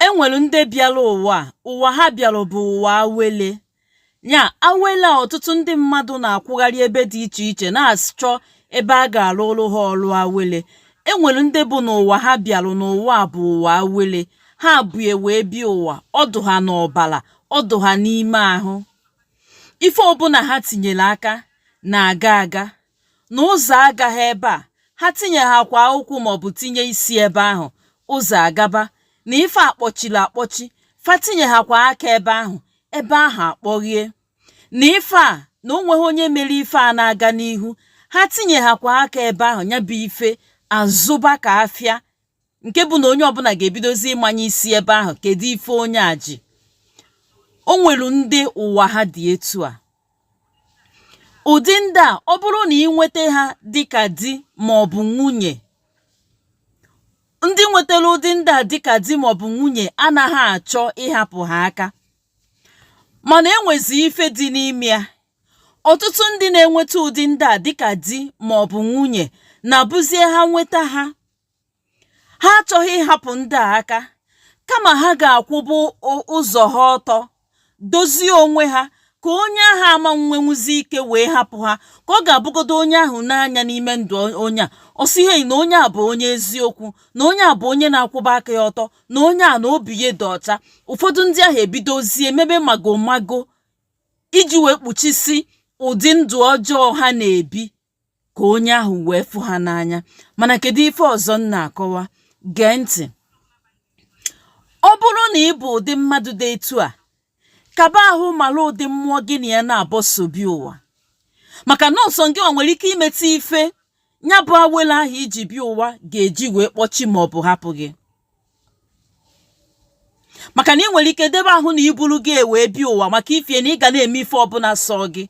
e nwere ndị bịara ụwa ụwa ha bịara bụ ụwa awele ya awele a ọtụtụ ndị mmadụ na-akwụgharị ebe dị iche iche na-achọ ebe a ga-arụrụ ha ọrụ awele e nwere ndị bụ na ụwa ha bịara n'ụwa bụ ụwa awele ha bu ya wee bịa ụwa ọ dị ha n'ọbara ọ dị ha n'ime ahụ ife ọbụla ha tinyere aka na-aga aga na ụzọ agaghị ebe a ha tinyehakwa ụkwụ maọbụ tinye isi ebe ahụ ụzọ agaba na ife a kpọchiri akpọchi fa tinyehakwa aka ebe ahụ ebe ahụ akpọghie na ife a na o nweghị onye mere ife a na-aga n'ihu ha tinyehakwa aka ebe ahụ nya bụ ife azụba ka afịa nke bụ na onye ọbụla ga-ebidozi ịmanye isi ebe ahụ kedu ife onye a ji o nwere ndị ụwa ha dị etu a ụdị ndị a ọ bụrụ na ị nweta ha dịka di ma ọ bụ nwunye ndị nwetara ụdị ndị a dịka di ma ọ bụ nwunye anaghị achọ ịhapụ ha aka mana e nwezi ife dị n'ime ya ọtụtụ ndị na-enweta ụdị ndị a dịka di ma ọ bụ nwunye na-abụzie ha nweta ha ha achọghị ịhapụ ndị a aka kama ha ga-akwụba ụzọ ha ọtọ dozie onwe ha ka onye ahụ ama nwenwuzi ike wee hapụ ha ka ọ ga-abụgodo onye ahụ nee anya n'ime ndụ onye a ọ sị ihe na onye a bụ onye eziokwu na onye a bụ onye na-akwụba aka ya ọtọ na onye a na obi ya dị ọcha ụfọdụ ndị ahụ ebidozie mebe magomago iji wee kpuchisi ụdị ndụ ọjọọ ha na-ebi ka onye ahụ wee fụ ha n'anya mana kedu ife ọzọ m na-akọwa gee ntị ọ bụrụ na ị bụ ụdị mmadụ dị etu a kaba ahụ mara ụdị mmụọ gị na ya naabọ so bịa ụwa maka na ọ sọ gịwa nwere ike imeta ife nya bụ awele ahụ i ji bịa ụwa ga-eji wee kpọchi ma ọ bụ hapụ gị maka na ị nwere ike debe ahụ na i buru ya wee bịa ụwa maka ifie na ị ga na-eme ife ọbụla sọ gị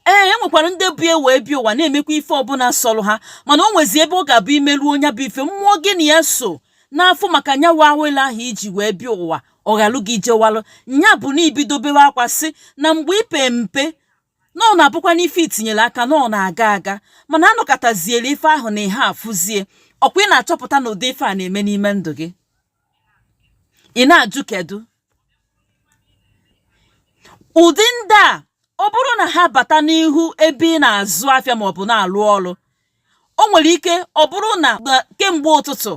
ee e nwekwara ndị bu ya wee bịa ụwa na-emekwa ife ọbụla sọrọ ha mana o nwezi ebe ọ ga-abụ i merụọ nya bụ ife mmụọ gị na ya so na-asọ maka nyawa awele ahụ i ji wee bịa ụwa ọ ghalụ gị jewalụ nya bụ na i bido bewe akwa sị na mgbe ị pe mpe na ọ na-abụkwa na ife i tinyere aka na ọ na-aga aga mana a nọkatazieri ife ahụ na ihe afụzie ọkwa ị na-achọpụta na ụdị ife a na-eme n'ime ndụ gị ị na-ajụ kedu ụdị ndị a ọ bụrụ na ha bata n'ihu ebe ị na-azụ afịa maọbụ na-alụ ọrụ o nwere ike ọ bụrụ na kemgbe ụtụtụ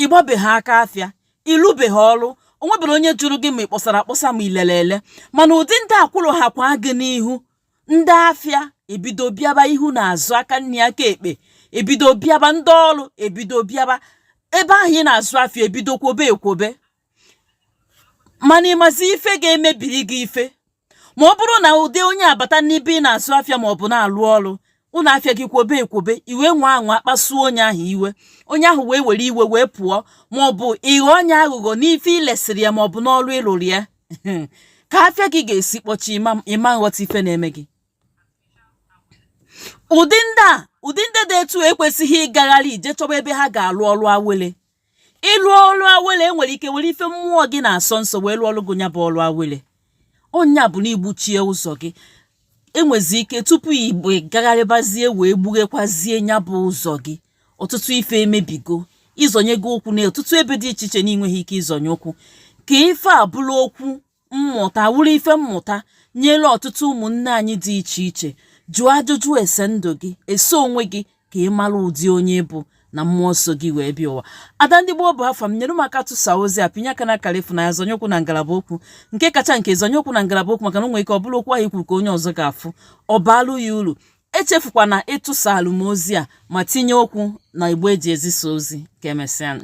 ịgbabeghị aka afịa ịlụbeghị ọrụ o nwebere onye jụrụ gị ma ị kpọsara akpọsa ma ilele ele mana ụdị ndị a kwụrụ ha kwa gị n'ihu ndị afịa ebido bịaba ihu na azụ aka nri aka ekpe ebido bịaba ndị ọrụ ebido bịaba ebe ahụ ị na-azụ afịa ebido kwobe ekwobe mana ịmazi ife ga-emebiri gị ife ma ọ bụrụ na ụdị onye a bata n'ebe ị na-azụ afịa ma ọ bụ na-alụ ọrụ ụlọ afịa gị kwobe ekwobe i wee nwaa anwa kpasuo onye ahụ iwe onye ahụ wee were iwe wee pụọ ma ọ bụ ịghọ onye aghụghọ n'ife ilesiri ya ma ọ bụ n'ọrụ ịlụrụ ya ka afịa gị ga-esi kpọchi ịma nghọta ife na-eme gị ụdị ndị a ụdị ndị dị etu a ekwesịghị ịgagharị ije chọba ebe ha ga-alụ ọrụ awele ịlụ ọrụ awele enwere ike were ife mmụọ gị na-asọ nsọ wee lụọ ọrụ gị nya bụ ọrụ awele ọ nya bụ na igbuchie ụzọ gị enwezi ike tupu ị bịa gagharịbazie wee gbughekwazie nya bụ ụzọ gị ọtụtụ ife emebigo ịzọnye gị ụkwụ na ọtụtụ ebe dị iche iche na ịnweghị ike ịzọnye ụkwụ ka ife a bụrụ okwu mmụta wụrụ ife mmụta nyere ọtụtụ ụmụnne anyị dị iche iche jụọ ajụjụ ese ndụ gị ese onwe gị ka ị mara ụdị onye ị bụ na mmụọ so gị wee bịa ụwa ada ndị gboo bụ afa m nyere m aka tụsa ozi a pịnye aka na akara ịfụnanya zonye okwu na ngalaba okwu nke kacha nke zonye okwu na ngalaba okwu maka na o nwere ike ọ bụrụ okwu ahụ ikwuru ka onye ọzọ ga-afụ ọ baalụ ya uru echefukwana ịtụsalụ m ozi a ma tinye okwu na igbe eji ezisa ozi ka emesịanụ